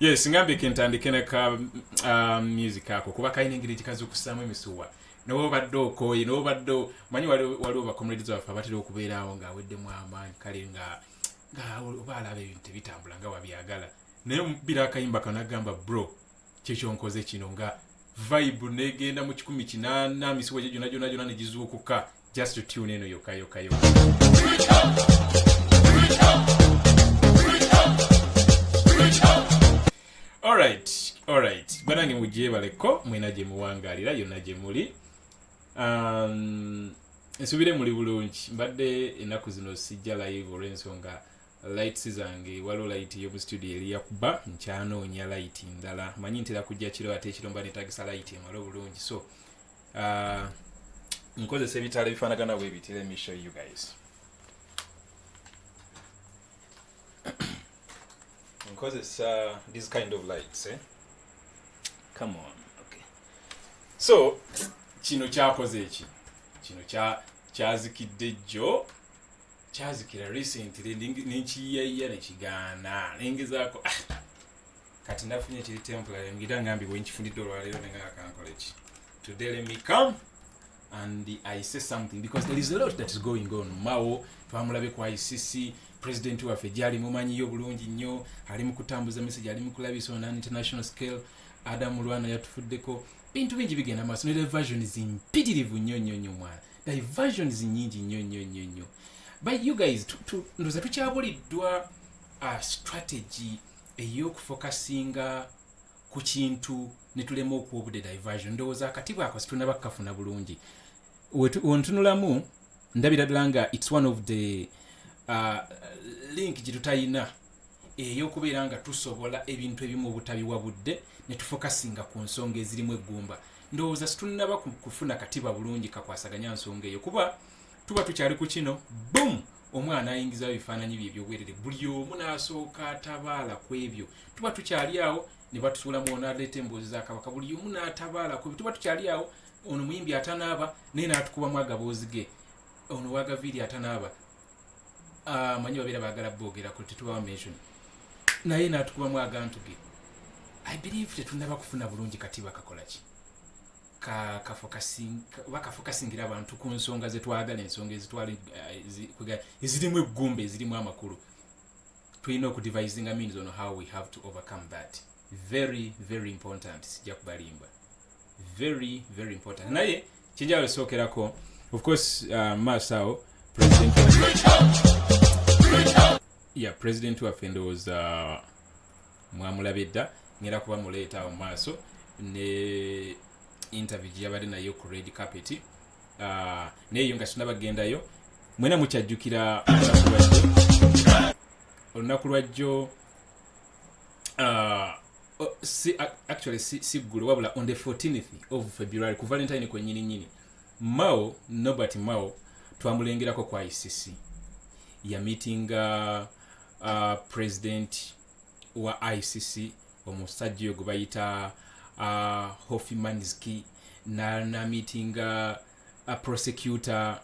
yes ngambye kentandike ne ka um, music ako kuba kalina engeri gikazukusaamu emisuwa nawe obadde okooye nawe obadde manyi waliwo bacomrades baffe abatera okubeeraawo nga aweddemu amaanyi kale nga nga oba alaba ebintu tebitambula nga wabyagala naye omubira akayimba kanagamba bro kyekyonkoze kino nga vibe negenda mu kikumi kinaana misiwa gye gyona gyona gyona negizuukuka just to tune in yokka yokka yokka alright alright banange mugyebaleko mwena gye muwangalira yonna gye muli um, nsubire muli bulungi mbadde ennaku zino sijja live olw'ensonga lights zange waliwo light yomu studio eri yakuba nkyanoonya light ndala manyi ntera kujja kiro ate ekiro mba netagisa light emala obulungi so uh, nkozesa ebitala ebifanagana bwe biti let me show you guys nkozesa this kind of lights eh? come on okay so kino kyakoze eki kino kyazikidde jjo kyazikira recently nenkiyayiya nekigaana nengezaako ah, kati nafunye kiri temporary ngira ngambi wenkifundidde olwaleero nenga akankola ki today let me come and i say something because there is a lot that is going on mawo twamulabe ku icc president waffe gyali mumanyiyo bulungi nnyo ali mu kutambuza message ali mu kulabisa on an international scale adamu lwana yatufuddeko bintu bingi bigenda maaso ne diversions mpitirivu nnyo nnyo nnyo mwana diversions nyingi nnyo nnyo nnyo nnyo but you guys ndoza tukyabuliddwa a strategy ey'okufokasinga ku kintu ne tulema okuwa obudde diversion ndowooza akati bwako situnaba kukafuna bulungi ontunulamu ndabira ddala nga its one of the uh, link gye tutayina ey'okubeera nga tusobola ebintu ebimu obutabiwa budde ne tufokasinga ku nsonga ezirimu eggumba ndowooza situnaba kufuna katiba bulungi kakwasaganya nsonga eyo kuba tuba tukyali ku kino boom omwana ayingizawo ebifaananyi bye ebyobwerere buli omu n'asooka atabaala ku ebyo tuba tukyali awo ne batusuulamu ono aleeta emboozi za kabaka buli omu n'atabaala ku ebyo tuba tukyali awo ono muyimbi atanaaba naye n'atukubamu agaboozi ge ono wagaviiri atanaaba ah, manyi babeera baagala boogerako tetubawa mention naye n'atukubamu agantu ge i believe tetunaba kufuna bulungi kati bakakola ki bakafokasingira abantu ku nsonga zetwagala ensonga eh, ezirimu eggumba ezirimu amakulu tulina okudivisinga means on how we have to overcome that very very important sijja kubalimba very very important naye kyenjawulo esookerako of course uh, maaso awo president ya president waffe ndowooza mwamulabye dda ngera kuba muleeta awo maaso ne interview gyeyabadde nayo ku red carpet ah, naye yo nga sinabagendayo mwena mukyajjukira olunaku lwajjo ah, oh, actually si ggulo wabula on the 14th of february ku valentine kwenyini nyini mao nobert mao twamulengerako kwa icc yamitinga uh, uh, president wa icc omusajja oyo gwe bayita uh, hofimanski namitinga uh, prosecutor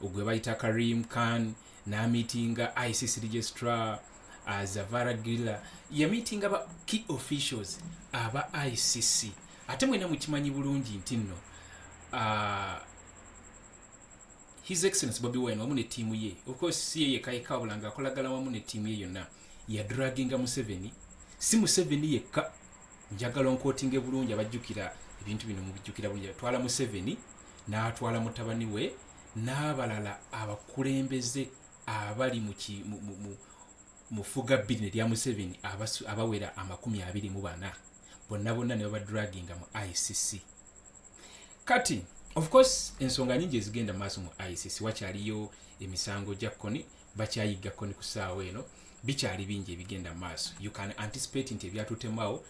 ogwe bayita karim khan namitinga icc registrar uh, zavara gilla yamitinga ba key officials aba icc ate mwena mukimanyi bulungi nti nno uh, His Excellency Bobi Wine wamu ne ttiimu ye of course si ye yekka yekka wabula ng'akolagana wamu ne ttiimu ye yonna yadraginga Museveni si Museveni yekka njagala onkootinge bulungi abajjukira ebintu bino mubijjukira bulungi atwala Museveni n'atwala mutabani we n'abalala abakulembeze abali Mu ffugabbirne lya Museveni abasu abawera amakumi abiri mu bana bonna bonna ne babadraginga mu ICC. Kati of course ensonga nyingi ezigenda mu maaso mu ICC wakyaliyo emisango gya Kony bakyayigga Kony ku ssaawa eno bikyali bingi ebigenda mu maaso you can anticipate nti ebyatutemawo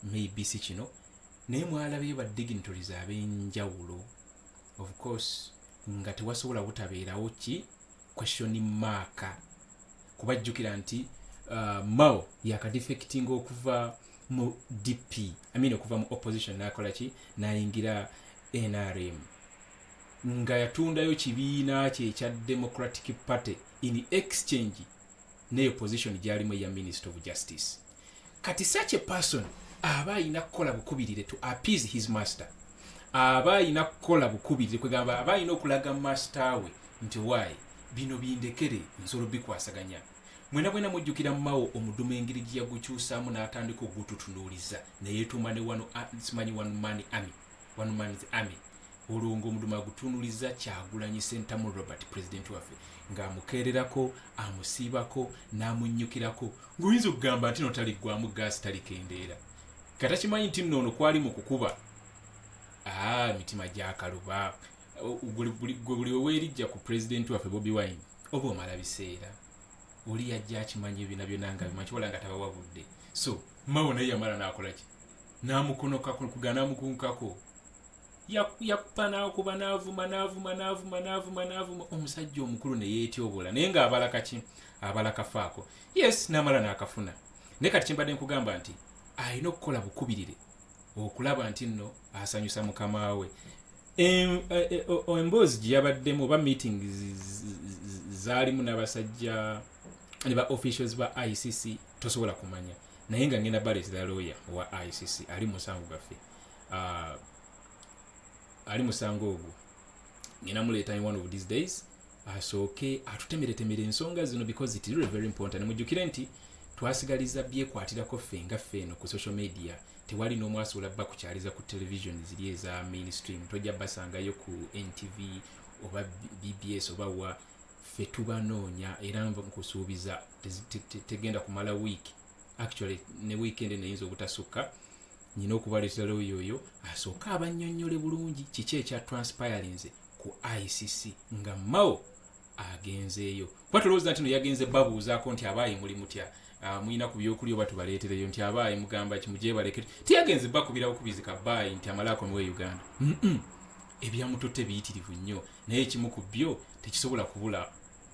maybe si kino naye mwalabeyo ba dignitaries ab'enjawulo of course nga tewasobola butabeerawo ki question mark kuba jjukira nti uh, mao yakadefectinga okuva mu dp I mean okuva mu opposition nakola ki nayingira nrm nga yatundayo kibiina kye ekya democratic party in exchange ne opposition gyalimu eya minister of justice kati such a person aba alina kukola bukubirire to appease his master aba alina kukola bukubirire kwegamba aba alina okulaga master we nti wayi bino bindekere nsolo bikwasaganya mwena bwena mujjukira mawo omuduma engeri gye yagukyusaamu n'atandika ogututunuuliza neyetuuma ne wano simanyi one man army one man's army olwo ng'omudumu agutunuliza kyagulanyi sentamu robert pulezidenti waffe ng'amukeererako amusiibako n'amunnyukirako ng'oyinza okugamba nti no taliggwamu gaasi talikendeera katakimanyi nti noono kwali mu kukuba aa emitima gyakaluba gwe buli weweerijja ku pulezidenti waffe bobi wine oba omala biseera oli yajja akimanyi ebina byona nga bimanyi kibola nga tabawa budde so mawo naye yamala nakolaki namukonokako kugana mukunkako yakupa nakuba navuma navuma navuma navuma navuma omusajja omukulu neyetyoboola naye nga abala kaki abala kafaako yes namala nakafuna naye kati kyembadde nkugamba nti alina okukola bukubirire okulaba nti nno asanyusa mukama we e, e, emboozi gyeyabaddemu oba meeting zaalimu n'abasajja ne ba officials ba icc tosobola kumanya naye nga ngenda baleti da lawyer wa icc ali musango gaffe uh, ali musango ogwo ngenda muleeta in one of these days asooke atutemeretemere ensonga zino because it really very important mujjukire nti twasigaliza byekwatirako ffe nga ffe eno ku social media tewali n'omu asobola bba kukyaliza ku television ziri eza mainstream tojja basangayo ku ntv oba bbs oba wa ffe tubanoonya era nkusuubiza tegenda kumala wiiki actually ne weekend neyinza obutasukka nyina okubaliza looya oyo asooke abannyonnyole bulungi kiki ekya transpirinze ku icc nga mao agenzeeyo kuba tolowooza nti no yagenze babuuzaako nti abaayi muli mutya ah, mulina ku byokulya oba tubaleetereyo nti abaayi mugamba kimujebaleke tiyagenze bakubira bukubizi ka baayi nti amalaako niwe uganda ebyamututte biyitirivu nnyo naye ekimu ku byo tekisobola kubula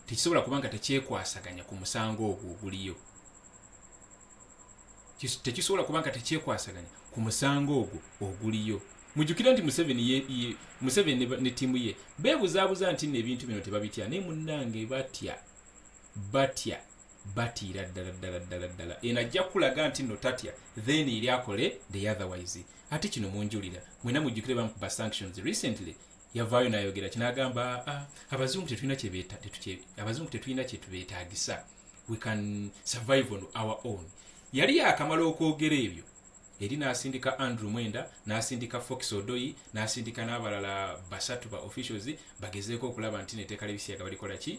tekisobola kuba nga tekyekwasaganya ku musango ogwo oguliyo tekisobola kuba nga tekyekwasaganya ku musango ogwo oguliyo mujukire nti museveni ye, ye, museveni ne tiimu ye bebuzabuza nti no ebintu bino tebabitya naye munnange batya batya batiira ddala ddala ddala ddala eno ajja kukulaga nti no tatya then eri akole the otherwise ate kino munjulira mwena mujukire bamukuba sanctions recently yavaayo nayogera kinagamba ah, abazungu tetulina abazungu tetulina kyetubetagisa we can survive on our own yali yakamala okwogera ebyo eri nasindika andrew mwenda nasindika fox odoyi nasindika n'abalala basatu ba officials bagezeeko okulaba nti neteeka lebisiyaga balikola ki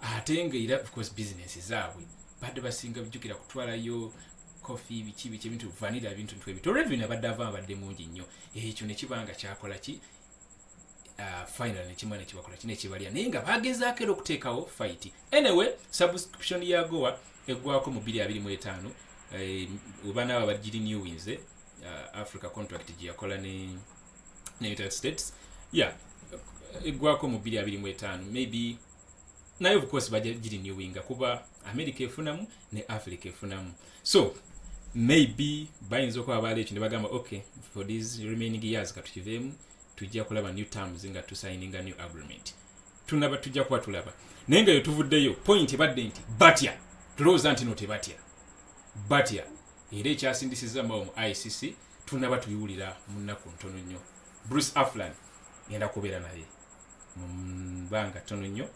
ate nga era ofcourse business zaabwe badde basinga bijjukira kutwalayo kofi biki biki ebintu vanira ebintu ntu ebito revin abadde ava abadde mungi nnyo ekyo nekiba nga kyakola ki ah, final nekimwa nekibakola ki nekibalya naye nga bagezaako era okuteekawo fight anyway subscription ya goa eggwako mu 225 eh, oba naabo abagiri newinze ah, africa contract gyeyakola ne ne united states yeah eggwako mu 225 maybe naye of course baja girinewinga kuba america efunamu ne africa efunamu so maybe bayinza okuba baala ekyo ne bagamba okay for these remaining years katukiveemu tujja kulaba new terms nga tusayininga new agreement tunaba tujja kuba tulaba naye nga yetuvuddeyo point ebadde nti batya tulowooza nti no tebatya batya era ekyasindisiza mbawo mu icc tunaba tubiwulira mu nnaku ntono nnyo bruce aflan ngenda kubeera naye mu bbanga ttono nnyo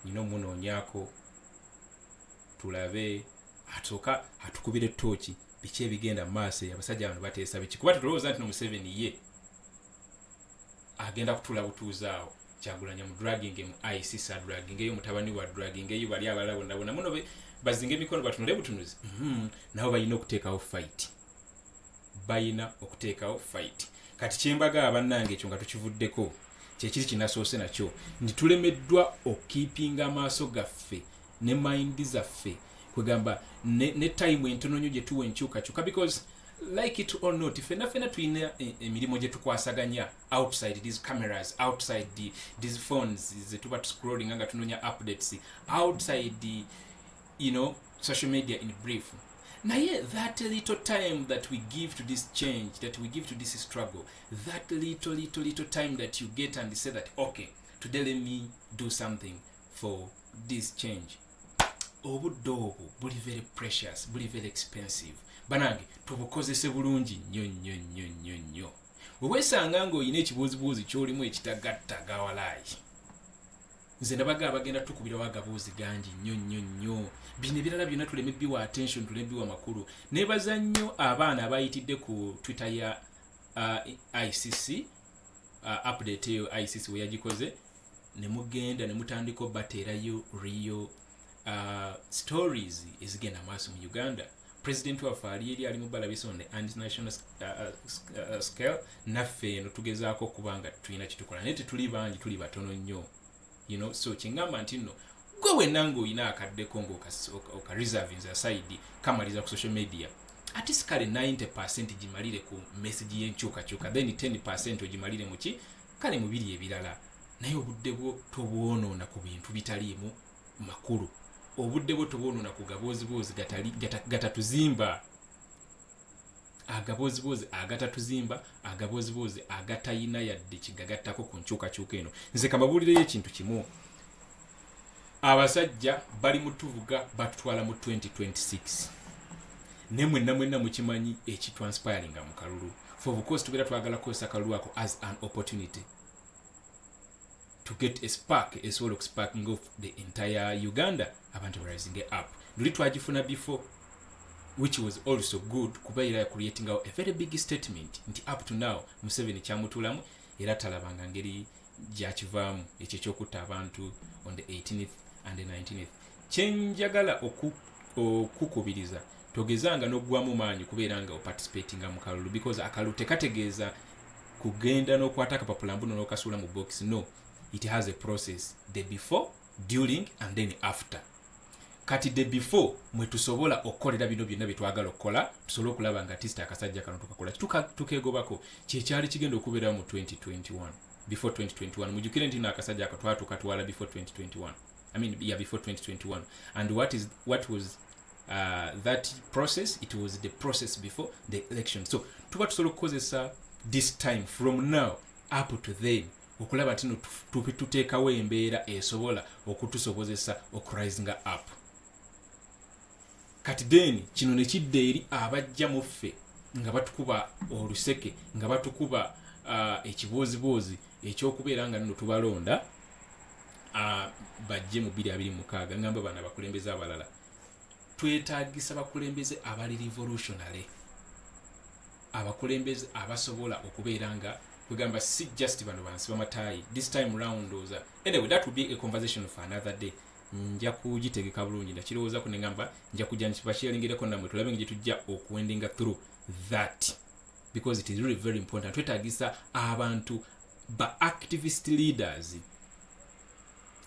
nyina omunoonyako tulabe atuuka atukubire tooki biki ebigenda mu maaso eyo abasajja bano bateesa biki kuba tetulowooza nti nomuseveni ye agenda kutula butuuzi awo kyagulanya mu dragging mu ic sa dragging eyo mutabani wa dragging eyo bali abalala bonna bonna muno bazinga emikono batunule butunuzi mhm. nabo balina okuteekawo fight bayina okuteekawo fight kati kyembagaa bannange ekyo nga tukivuddeko kyekiri kinasoose nakyo nti tulemeddwa okukipinga amaaso gaffe ne mayindi zaffe kwegamba ne, ne time entono nyo gyetuwa enkyukakyuka because like it or not fena fena tulina e, emirimu gyetukwasaganya outside these cameras outside the, these phones zetuba tuscrolling nga tunonya updates outside the, you know social media in brief naye that little time that we give to this change that we give to this struggle that little little little time that you get and say that okay today let me do something for this change obudde obwo buli very precious buli very expensive banange tubukozese bulungi nnyo nnyo nnyo nnyo nnyo weweesanga ng'olina ekibuuzibuuzi ky'olimu ekitagatta gawalaayi nze nabaga abagenda tukubirawo agaboozi gangi nnyo nnyo nnyo bino ebirala byonna tuleme biwa attention tuleme biwa makulu nebaza nnyo abaana abayitidde ku twitter ya uh, icc uh, update eyo icc weyagikoze nemugenda nemutandika obateerayo rio uh, stories ezigenda maaso mu uganda president waffe ali eri ali mubalabisa on the international uh, uh, uh, scale naffe eno tugezaako okuba nga tulina kitukola naye tetuli bangi tuli batono nnyo you know so kyengamba nti nno gwe wenna ngaolina akaddeko ngaokareservings oka aside kamaliza ku social media ati sikale 90 percent gimalire ku message yenkyukakyuka then 10 percent ogimalire muki kale mubiri ebirala naye obudde bwo tobwonoona ku bintu bitaliimu makulu obudde bwo tobwonona ku gabooziboozi gatatuzimba agabooziboozi agatatuzimba agabooziboozi agatayina yadde kigagattako ku nkyukakyuka eno nze kababuulireyo ekintu kimu abasajja bali mutuvuga batutwala mu 2026 ne mwenna mwenna mukimanyi ekitranspiringa mu kalulu for of course tubeera twagala kukozesa kalulu ako as an opportunity to get a spark esobola okusparking of the entire uganda abantu rising up luli twagifuna before which was also good kuba era creating a very big statement nti up to now museveni kyamutulamu era talabanga ngeri gyakivaamu ekyo ekyokutta abantu on the 18th and the 19th kyenjagala okukubiriza togezanga n'oggwamu maanyi kubeera nga oparticipatinga mu kalulu because akalulu tekategeeza kugenda n'okwata akapapula mbuno n'okasuula mu box no it has a process the before during and then after kati the before mwe tusobola okukolera bino byonna bye twagala okukola tusobole okulaba nga tista akasajja kano tukakola tukeegobako kyekyali kigenda okubeerawo mu 2021 before 2021 mujukire nti naakasajja ako twatuka twala before 2021 i mean yeah before 2021 and what is what was uh, that process it was the process before the election so tuba tusobola okukozesa this time from now up to then okulaba ntino tuteekawo embeera esobola okutusobozesa okurisinga up kati then kino nekidda eri abajja mu ffe nga batukuba oluseke nga batukuba uh, ekibooziboozi ekyokubeera nga nino tubalonda uh, bajje mu 2 2 mukaaga ngamba bana bakulembeza abalala twetagisa bakulembeze abali revolutionary abakulembeze abasobola okubeera nga kwegamba si just bano bansi bamatayi this time round oza anyway that will be a conversation for another day nja kugitegeka bulungi nakirowoozako nengamba nja kujja nkibakiyalingereko namwe tulabe nga gyetujja okuendinga through that because it is really very important twetagisa abantu ba activist leaders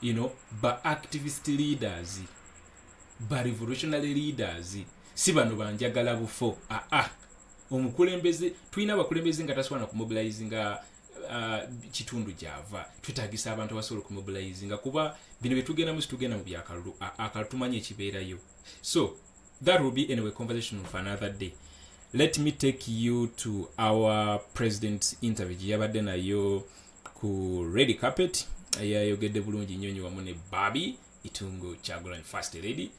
you know ba activist leaders ba revolutionary leaders si bano banjagala bufo aa ah, ah. omukulembeze tulina abakulembeze nga tasobola nakumobilize nga uh, kitundu gyava twetagisa abantu abasobola okumobilize nga kuba bino byetugendamu situgenda mu byakalulu akalulu tumanyi ekibeerayo so that will be anyway conversation of another day let me take you to our president's interview gyeyabadde nayo ku red carpet yayogedde bulungi nyonyi wamu ne babi itungo kyagulanyi first lady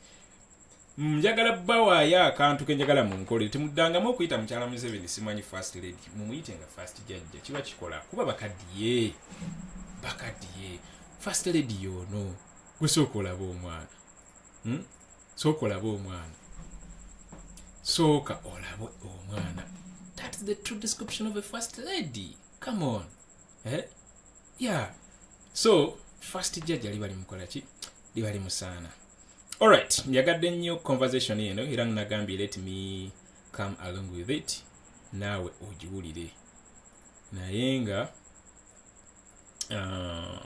njagala bawaayo akantu kenjagala munkole temuddangamu okuyita mukyala museveni simanyi first lady mumuyite nga first jajja kiba kikola kuba bakadiye bakadiye first lady yono gwe sooka olaba omwana hmm? sooka olaba omwana sooka olaba omwana thats the true description of a first lady come on eh? yeah so first jjaja liba limukola ki liba limusaana alright njagadde nnyo conversation eno era nagambye let me come along with it naawe ogiwulire naye nga uh,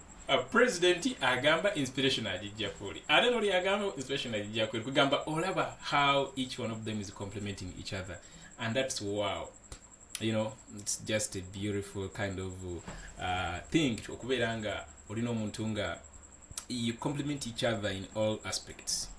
Uh, president agamba inspiration ajijja kuli ate noli agamba inspiration ajijja kuli kugamba olaba how each one of them is complementing each other and that's wow you know it's just a beautiful kind of uh, thing okubeera nga olina omuntu nga you complement each other in all aspects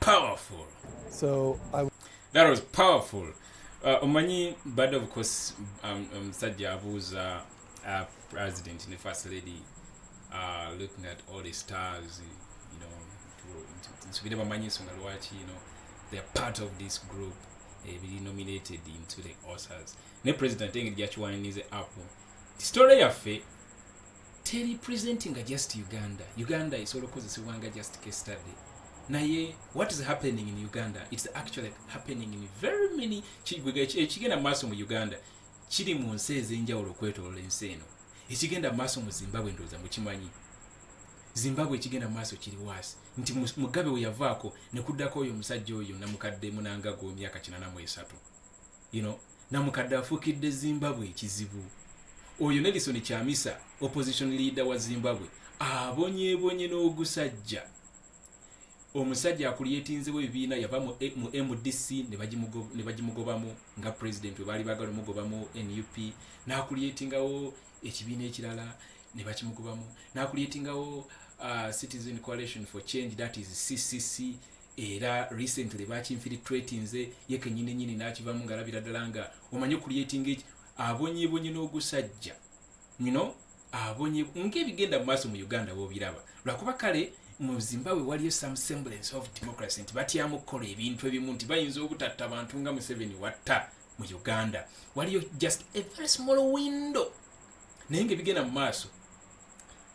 powerful so I... that was powerful uh, omanyi bad of course um, um, musajja um, abuuza uh, president ne first lady uh, looking at all the stars you know nsubire bamanyi ensonga lwaki you know they're part of this group ebiri eh, nominated into the oscars ne president engeri gyakiwanirize app story yaffe teri presentinga just uganda uganda esobola okukozesebwa nga just case study naye what is happening in uganda its actually happening in very many ekigenda mu maaso mu uganda kiri mu nsi ez'enjawulo okwetolola ensi eno ekigenda mu maaso mu zimbabwe ndowooza mukimanyi zimbabwe ekigenda mu maaso kiri waasi nti mugabe weyavaako nekuddako oyo omusajja oyo namukadde munangago emyaka kinana mu esatu you know, namukadde afukidde zimbabwe ekizibu oyo nelison kyamisa opposition leader wa zimbabwe abonyebonye n'ogusajja omusajja akulyetinzewo ebibiina yava mu eh, mdc ne bagimugobamu nga president we baali bagala omugobamu nup nakulyetingawo ekibiina ekirala ne bakimugobamu nakulyetingawo uh, citizen coalition for change that is ccc era recently bakinfilitretinze ye kenyini nyini nakivamu ngalabira ddala nga omanyi okuliyetinga eki abonyebonye n'ogusajja you know abonye ng'ebigenda mu maaso mu uganda bobiraba lwakuba kale mu zimbabwe waliyo some semblance of democracy nti batyamu okukola ebintu ebimu nti bayinza obutatta bantu nga museveni watta mu uganda waliyo just a very small window naye nga ebigenda mu maaso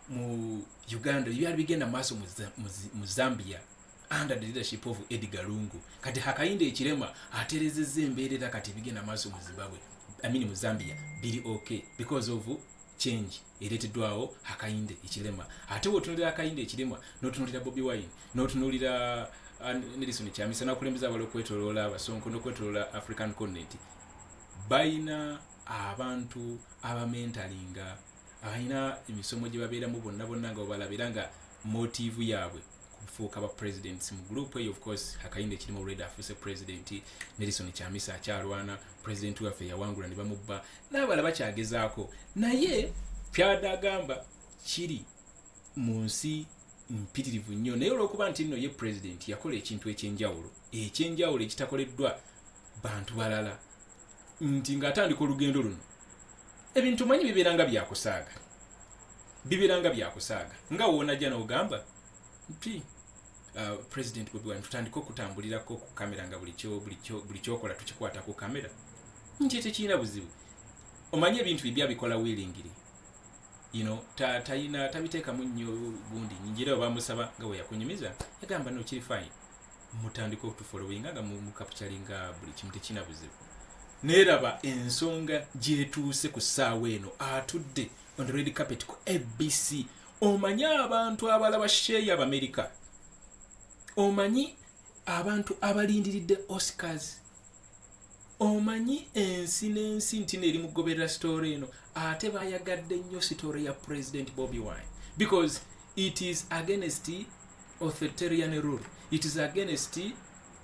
mu uganda byali bigenda mu maaso mu zambia under the leadership of Edgar Lungu kati hakayinde ekirema aterezeza embeera era kati bigenda maaso mu Zimbabwe I mean mu Zambia biri okay because of change ereteddwawo hakayinde ekirema ate wotunulira hakayinde ekirema notunulira Bobi Wine notunulira uh, Nelson Chamisa nakulembeza abalo kwetolola abasonko nokwetolola African continent bayina abantu abamentalinga abalina emisomo gye babeeramu bonna bonna nga obalabira nga motiivu yaabwe kufuuka ba presidents mu group eyo of course akayimba ekirimu already afuuse president nelison kyamisa akyalwana president waffe yawangula ne bamubba n'abala bakyagezaako naye kyada agamba kiri mu nsi mpitirivu nnyo naye olwokuba nti nno ye president yakola ekintu ekyenjawulo ekyenjawulo ekitakoleddwa bantu balala nti ng'atandika olugendo luno ebintu manyi bibeera nga byakusaaga bibeera nga byakusaaga nga woonajja n'ogamba nti uh, president bobi wine tutandike okutambulirako ku kamera nga buli kyokola tukikwata ku kamera nti tekirina buzibu omanyi ebintu bibya bikola willingiri you know tayina tabiteekamu nnyo gundi nyingira obamusaba nga weyakunyumiza yagamba nokiri fine mutandika okutufolowinga nga mukapcalinga buli kimu tekina buzibu neeraba ensonga gyetuuse ku ssaawa eno atudde on the red carpet ku abc omanyi abantu abalaba sheeyi abamerika omanyi abantu abalindiridde oscars omanyi ensi n'ensi nti neeri mugoberera sitoore eno ate bayagadde nnyo sitoore ya president bobi wine because it is against authoritarian rule it is against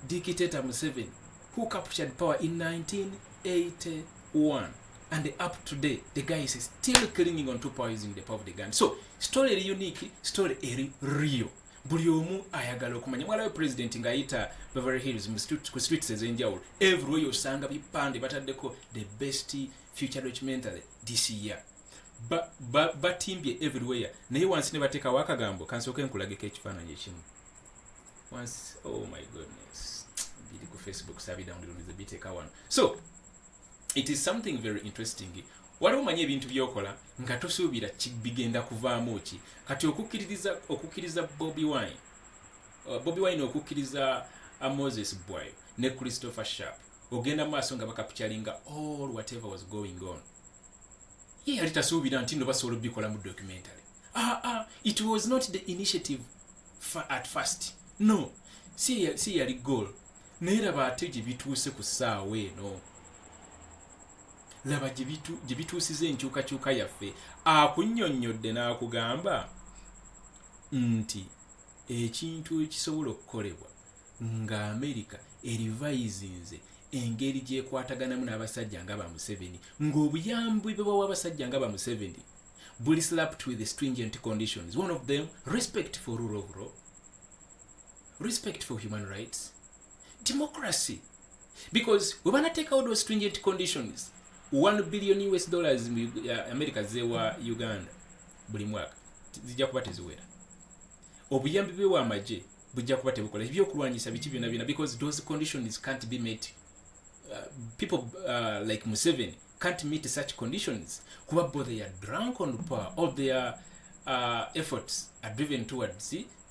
dictator museven who captured power in 1981 and up today the guy is still clinging on to power using the power of the gun so story eri unique story eri real buli omu ayagala okumanya mwalawe president ng'ayita beverly hills ku streets ez'enjawulo everywhere osanga bipande bataddeko the best future documentary this year batimbye ba, ba everywhere naye wansi ne bateekawo akagambo kansooka enkulageko ekifaananyi ekimu wansi oh my goodness biri ku facebook sabidawundiro nze biteeka wano so it is something very interesting waliwo omanyi ebintu byokola nga tosuubira bigenda kuvaamu ki kati okukkiririza okukkiriza bobi wine uh, bobi wine okukkiriza uh, moses bwayo ne christopher sharp ogenda maaso nga bakapityalinga all whatever was going on ye yali tasuubira nti no basobola obikola mu documentary ah, ah, it was not the initiative at first no si yali goal naye laba ate gye bituuse ku ssaawa eno laba gye bituusiza enkyukakyuka yaffe akunnyonnyodde n'akugamba nti ekintu ekisobola okukolebwa nga amerika erivayizinze engeri gyekwataganamu n'abasajja nga ba museveni ng'obuyambi bwe bawa abasajja nga ba museveni buli slapped with stringent conditions one of them respect for rule of law respect for human rights democracy because we banateekawo those stringent conditions 1 billion us dollars mu uh, america zewa uganda buli mwaka zijja kuba teziwera obuyambi bwewa amagye bujja kuba tebukola ebyokulwanyisa biki byona byona because those conditions can't be met uh, people uh, like museven can't meet such conditions kuba bo they are drunk on power all their uh, efforts are driven towards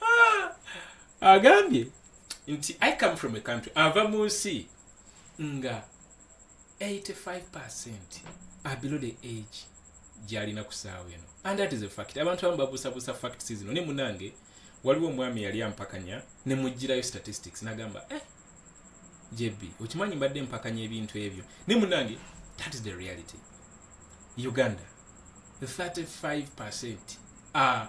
ah, agambye nti i come from a country ava mu nsi nga 85 percent are below the age gyalina ku saawa eno and that is a fact abantu abamu babuusabuusa facts zino ne munange waliwo omwami yali ampakanya ne mugirayo statistics nagamba eh, jb okimanyi mbadde mpakanya ebintu ebyo ne munange that is the reality uganda 35 percent are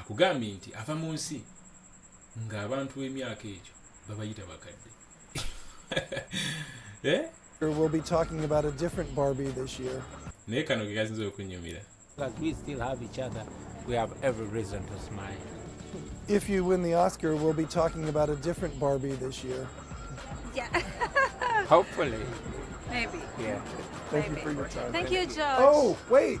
akugambye nti ava mu nsi nga abantu b'emyaka egyo babayita bakadde eh? We'll be talking about a different Barbie this year. naye kano ke kasinza okunyumira If you win the Oscar, we'll be talking about a different Barbie this year. Yeah. Hopefully. Maybe. Yeah. Thank Maybe. you for your time. Thank, Thank you, George. Oh, wait.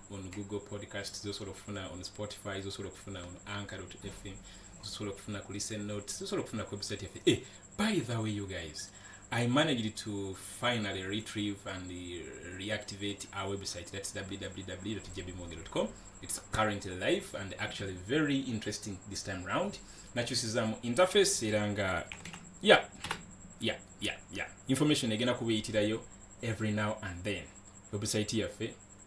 on google podcast zosobola okufuna on spotify zosobola okufuna on anchor fm zosobola okufuna ku listen notes zosobola okufuna ku website yaffe eh, by the way you guys i managed to finally retrieve and reactivate our website that's www jbmorgan.com it's currently live and actually very interesting this time round nakyusizamu interface era nga yeah yeah yeah yeah information egenda kuba eyitirayo every now and then website yaffe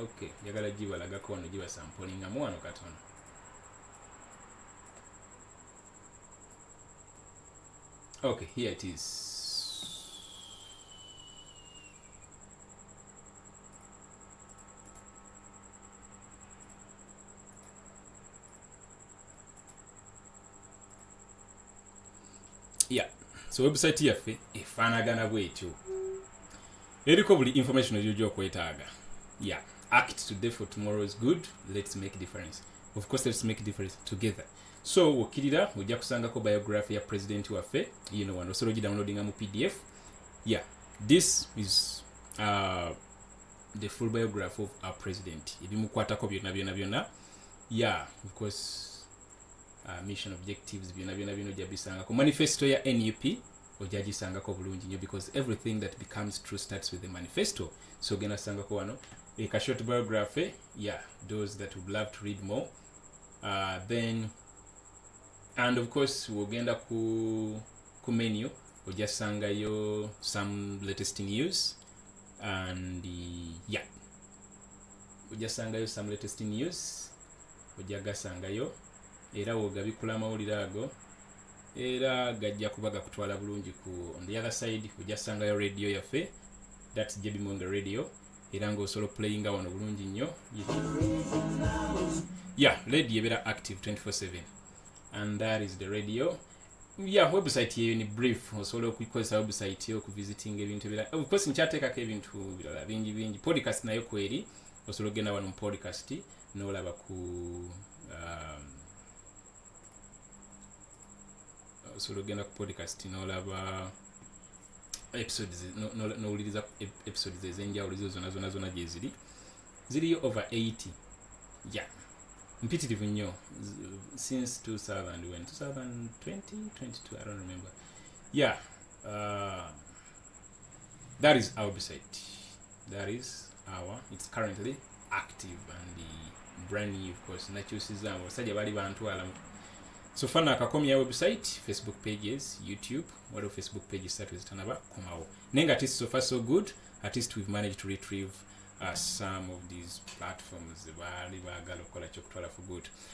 okay njagala gibalagako wano gibasampolingamu wano katono okay here it is yeah so website yaffe efaanagana bwetyo eriko buli information gyojja okwetaaga yeah act today for tomorrow is good let's make difference of course let's make difference together so wokkirira ojja kusangako biography ya president waffe yino wano osobola ogidownloadinga mu pdf yeah this is uh, the full biography of our president ebimukwatako byonna byonna byonna yeah because uh, mission objectives byona byona bino ojja bisanga ku manifesto ya nup ojja gisangako bulungi nyo because everything that becomes true starts with the manifesto so ogenda sangako wano a eh, short biography yeah those that would love to read more uh, then and of course wogenda ku ku menu ojja sangayo some latest news and yeah ojja sangayo some latest news ojja gasangayo era wogabikula amawulire ago era gajja kuba gakutwala bulungi ku on the other side ojja sangayo radio yaffe thats jb monga radio era ngaosobola opulayinga wano bulungi nnyo ya radio ebeera active 247 and that is the radio ya website yeyo ni brief osobola okukozesa website yo okuvisitinga ebintu ebirala of course nkyateekako ebintu birala bingi bingi podcast nayo kweri osobola okugenda wano mu podcast n'olaba ku um, osobola okugenda ku podcast n'olaba episodes n'owuliriza episodes ez'enjawulo zo zona zona zona gyeziri ziriyo over 80 ya mpitirivu nnyo since 2000 when 2020 22 i don't remember yeah uh, that is our website that is our it's currently active and the brand new of course nakyusiza abasajja bali bantwala so fana akakomya website facebook pages youtube waliwo facebook pages satu ezitanaba komawo naye nga tis sofa so good at least we've managed to retrieve uh, some of these platforms baali baagala okukola kyokutwala for good